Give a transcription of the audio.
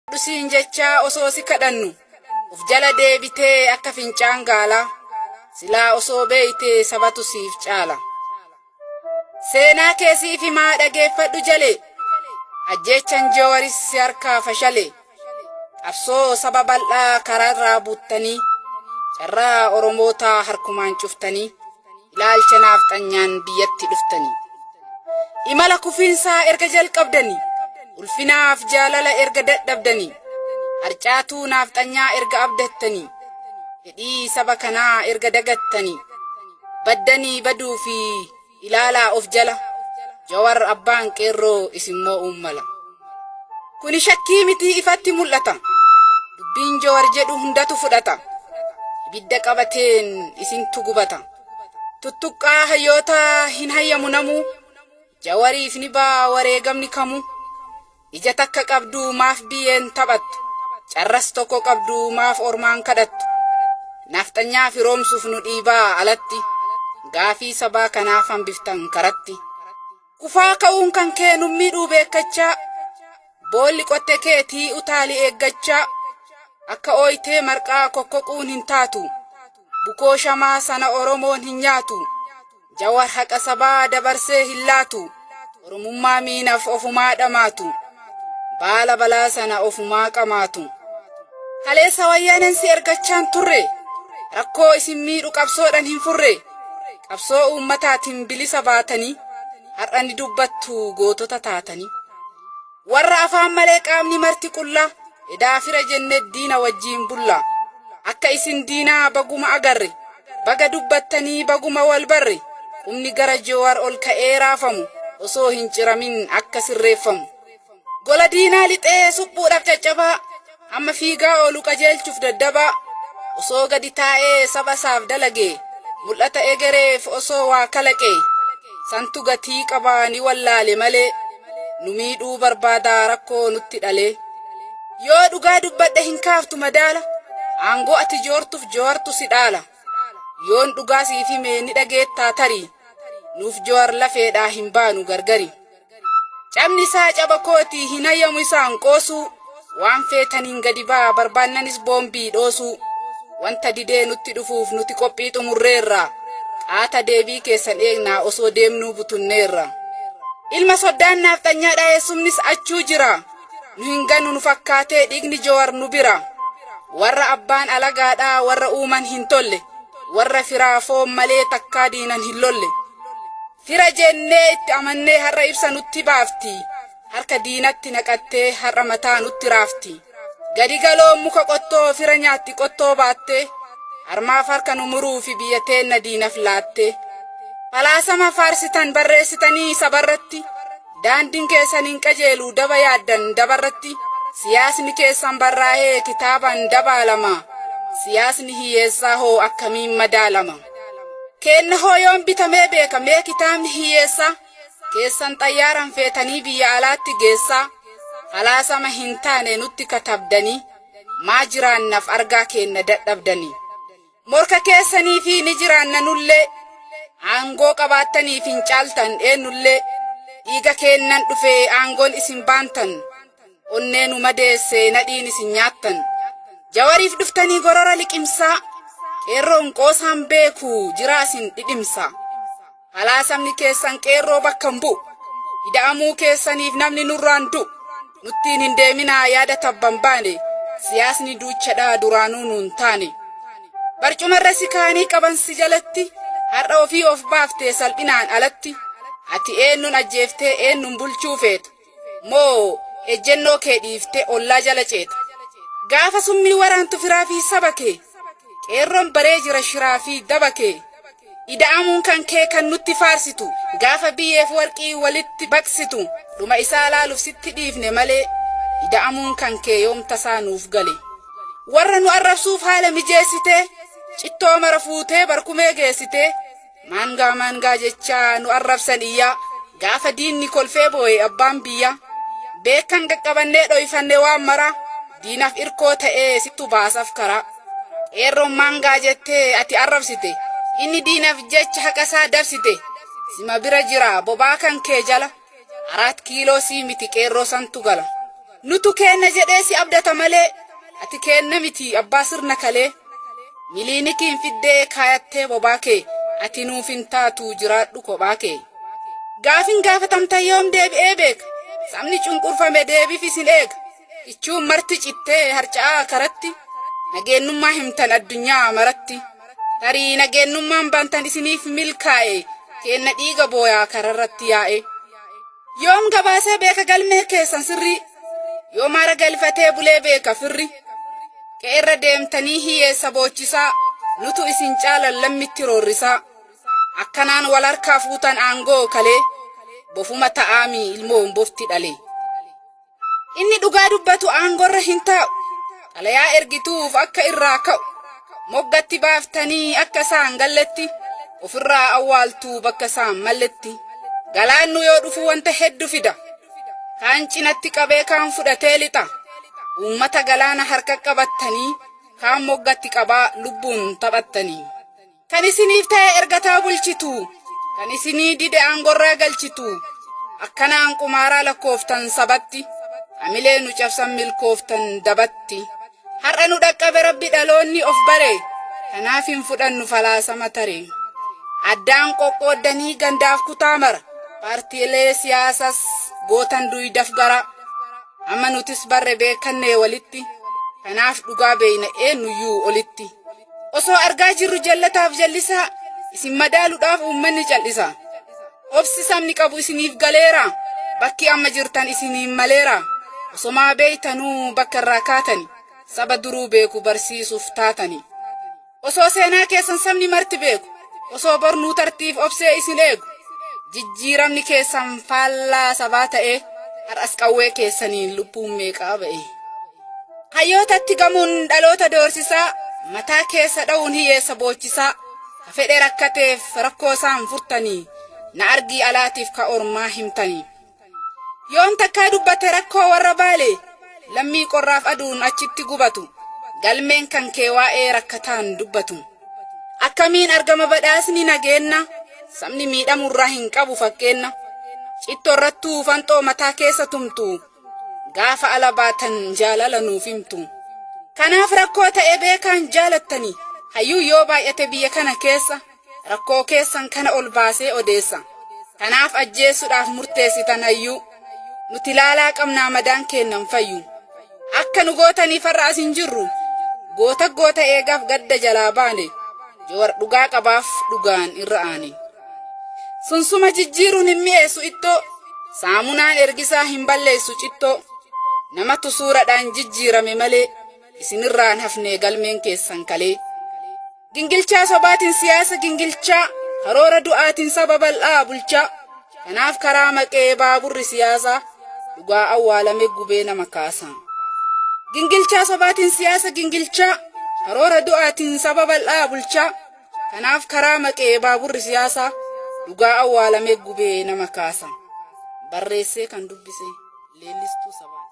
Fudhu siin jechaa osoo si kadhannu of jala deebitee akka fincaan gaalaa silaa osoo beeytee sabatu siif caala. Seenaa kee siif himaa dhageeffadhu jalee ajjeechan joowaris si harkaa fashalee qabsoo saba bal'aa karaarraa buttanii carraa oromootaa harkumaan cuftanii. Ilaalcha naafxanyaan biyyatti dhuftanii. Imala kufiinsaa erga jalqabdanii. Ulfinaaf jaalala erga dadhabdanii. Harcaatuu naafxanyaa erga abdattanii. Fedhii saba kanaa erga dagattanii. Baddanii baduu fi ilaalaa of jala. Jawar abbaan qeerroo isin moo'uun mala. Kuni shakkii mitii ifatti mul'ata. Dubbiin Jawar jedhu hundatu fudhata. Ibidda qabateen isintu gubata. Tuttuqqaa hayyoota hin hayyamu namuu. Jawariif ni baa wareegamni kamuu. Ija takka qabdu maaf biyyeen taphattu. Carras tokko qabdu maaf ormaan kadhattu. Nafxanyaa firoomsuuf nu dhiibaa alatti. Gaafii sabaa kanaaf hambiftan karatti. Kufaa ka'uun kan kee nun miidhuu beekkachaa boolli qotte keetii utaali eeggachaa akka ooytee marqaa kokkoquun hin taatu bukoo shamaa sana oromoon hin nyaatu jawar haqa sabaa dabarsee hin laatu oromummaa miinaf ofumaa dhamaatu. Baala balaa sana ofumaa qamaatu. Kaleessa wayyaaneen si ergachaan turre. Rakkoo isin miidhu qabsoodhan hin furre. Qabsoo uummataatiin bilisa baatanii har'a ni dubbattu gootota taatanii. Warra afaan malee qaamni marti qullaa edaa fira jenne diina wajjiin bulla. Akka isin diinaa baguma agarre. Baga dubbattanii baguma wal barre. Humni gara Joowar ol ka'ee raafamu osoo hin ciramin akka sirreeffamu. Gola diinaa lixee suphuudhaaf caccabaa, amma fiigaa oolu qajeelchuuf daddabaa, osoo gadi taa'ee saba isaaf dalagee, mul'ata egereef osoo waa kalaqee, santu gatii qaba ni wallaale malee. nu miidhuu barbaadaa rakkoo nutti dhalee yoo dhugaa dubbadhe hin kaaftu madaala aangoo ati joortuuf jowartu si dhaala yoon dhugaa siif hime ni dhageettaa tarii nuuf jowar lafeedhaa hin baanu gargari cabni isaa caba kooti hin hayyamu isaan qoosuu Waan feetaniin gadi ba'aa, barbaannanis boombii dhoosuu. Wanta didee nutti dhufuuf nuti qophii xumurreerra. Qaata deebii keessan eegnaa osoo deemnuu butunneerra. Ilma soddaan naafxanyaadha eessumnis achuu jira. Nu hin ganu nu fakkaatee dhiigni Jowar nu bira. Warra abbaan alagaadha warra uuman hin tolle. Warra firaa foon malee takkaa diinan hin lolle. Fira jennee itti amannee har'a ibsa nutti baafti. harka diinatti naqattee har'a mataa nutti raafti. Gadi galoon muka qottoo fira nyaatti qottoo baattee harmaaf harka nu muruu fi biyya teenna diinaf laattee. Falaasama faarsitan barreessitanii sabarratti daandiin keessan hin qajeelu daba yaaddan dabarratti siyaasni keessan barraa'ee kitaabaan dabaalama siyaasni hiyyeessaa hoo akkamiin madaalama. Keenna hoo yoon bitamee beeka mee kitaabni hiyyeessaa. keessan xayyaaran feetanii biyya alaatti geessaa falaasama hin taane nutti katabdanii maa jiraannaf argaa keenna dadhabdanii morka keessanii fi ni jiraanna nullee aangoo qabaattaniif hin caaltan eennullee dhiiga keennan dhufee aangoon isin baantan onnee nu madeesse nadhiin isin nyaattan jawariif dhuftanii gorora liqimsaa qeerroon qoosaan beeku jiraa isin dhidhimsaa. Falaasamni keessan qeerroo bakka hin bu'u. Ida'amuu keessaniif namni nurraan du'u. Nuttiin hin deeminaa yaada tabba hin baane. Siyaasni duuchadha duraanuu nu hin taane. Barcumarra si kaanii qaban si jalatti. Har'a ofii of baaftee salphinaan alatti. Ati eennuun ajjeeftee eennuun bulchuu feeta. Moo ejjennoo kee dhiiftee ollaa jala ceeta? Gaafa summii waraantu firaa fi saba kee? Qeerroon baree jira shiraa fi daba kee? Ida'amuun kan kee kan nutti faarsitu, gaafa biyyeef warqii walitti baqsitu, dhuma isaa laaluuf sitti dhiifne malee, ida'amuun kan kee yoom tasaa nuuf gale? Warra nu arrabsuuf haala mijeessitee, cittoo mara fuutee barkumee geessitee, Maangaa maangaa jechaa nu arrabsan iyyaa gaafa diinni kolfee booye abbaan biyyaa beekan qaqqabannee dhoyfanne waan maraa diinaaf irkoo ta'ee sittu baasaf karaa qeerroon maangaa jettee ati arrabsite inni diinaaf jecha haqasaa dabsite sima bira jira bobaa kan kee jala Araat kiiloo sii miti qeerroo santu gala. Nutu keenna jedhee si abdata malee ati keenna miti abbaa sirna kalee. Miliinikiin fiddee kaayattee bobaa kee ati nuuf hin taatu jiraadhu kophaa kee. Gaafin gaafatamta yoom deebi'ee beeka sabni cunqurfame deebifis hin eega. Kichuun marti cittee harca'aa karatti nageennummaa himtan addunyaa maratti tarii nageennummaan bantan isiniif milkaa'e keenna dhiiga booyaa kararratti yaa'e yoom gabaasee beeka galmee keessan sirrii yoo maara galfatee bulee beeka firri qe'erra deemtanii hiyyeessa boochisaa nutu isin caalan lammitti roorrisaa akkanaan wal harkaa fuutan aangoo kalee bofuma ta'aami ilmoon bofti dhalee. Inni dhugaa dubbatu aangorra hin taa'u. Xalayaa ergituuf akka irraa ka'u. Moggatti baaftanii akka isaan galletti ofirraa awwaaltuu bakka isaan malletti. Galaannu yoo dhufu wanta heddu fida. Kaan cinatti qabee kaan fudhatee lixa. Uummata galaana harka qabattanii kaan moggatti qabaa lubbuun taphattanii. Kan isiniif ta'e ergataa bulchitu. Kan isinii dide aangorraa galchitu. Akkanaan qumaaraa lakkooftan sabatti. Hamilee nu cabsan milkooftan dabatti. Har'a nu dhaqqabe rabbi dhaloonni of bare. Kanaaf hin fudhannu falaasama tare. Addaan qoqqooddanii gandaaf kutaa mara. Paartiilee siyaasas gootan duydaf garaa. Amma nutis barre beekannee walitti. Kanaaf dhugaa beeyna eenyuyyuu olitti. Osoo argaa jirru jallataaf jallisaa isin madaaluudhaaf uummanni cal'isa. Obsi sabni qabu isiniif galeera. Bakki amma jirtan isiniin maleera. Osomaa beeytanuu bakka irraa kaatani. Saba duruu beeku barsiisuuf taatani. Osoo seenaa keessan sabni marti beeku. Osoo bornuu tartiif obsee isin eegu. Jijjiiramni keessan faallaa sabaa ta'ee har'as qawwee keessaniin lubbuun meeqaa ba'e. Hayyootatti gamuun dhaloota doorsisaa mataa keessa dha'uun hiyyeessa boochisaa ka fedhe rakkateef rakkoo isaan furtanii na argii alaatiif ka ormaa himtanii. Yoon takkaa dubbate rakkoo warra baale lammii qorraaf aduun achitti gubatu galmeen kan kee waa'ee rakkataan dubbatu. Akkamiin argama badhaasni nageenna sabni miidhamurraa hin qabu fakkeenna. Citto irrattuu fanxoo mataa keessa tumtu gaafa ala baatan jaalala nuuf himtu kanaaf rakkoo ta'e beekaan jaalattani hayyuu yoo baay'ate biyya kana keessa rakkoo keessan kana ol baasee odeessa kanaaf ajjeessuudhaaf murteessitan hayyuu nuti laalaa qabnaa madaan keennan fayyu akka nu gootaniif har'a as hin jirru goota goota eegaaf gadda jalaa baane jawar dhugaa qabaaf dhugaan irra aane. Sunsuma jijjiiruun hin mi'eessu ittoo, saamunaan ergisaa hin balleessu cittoo. Namatu suuradhaan jijjiirame malee, isinirraan hafnee galmeen keessan kalee. Gingilchaa sobaatiin siyaasa gingilchaa, karoora du'aatiin saba bal'aa bulchaa. Kanaaf karaa maqee baaburri siyaasaa, dhugaa awwaalame gubee nama kaasaa. Gingilchaa sobaatiin siyaasa gingilchaa, karoora du'aatiin saba bal'aa bulchaa. Kanaaf karaa maqee baaburri siyaasaa dhugaa awwaalamee gubee nama kaasa. Barreessee kan dubbise leellistuu sabaati.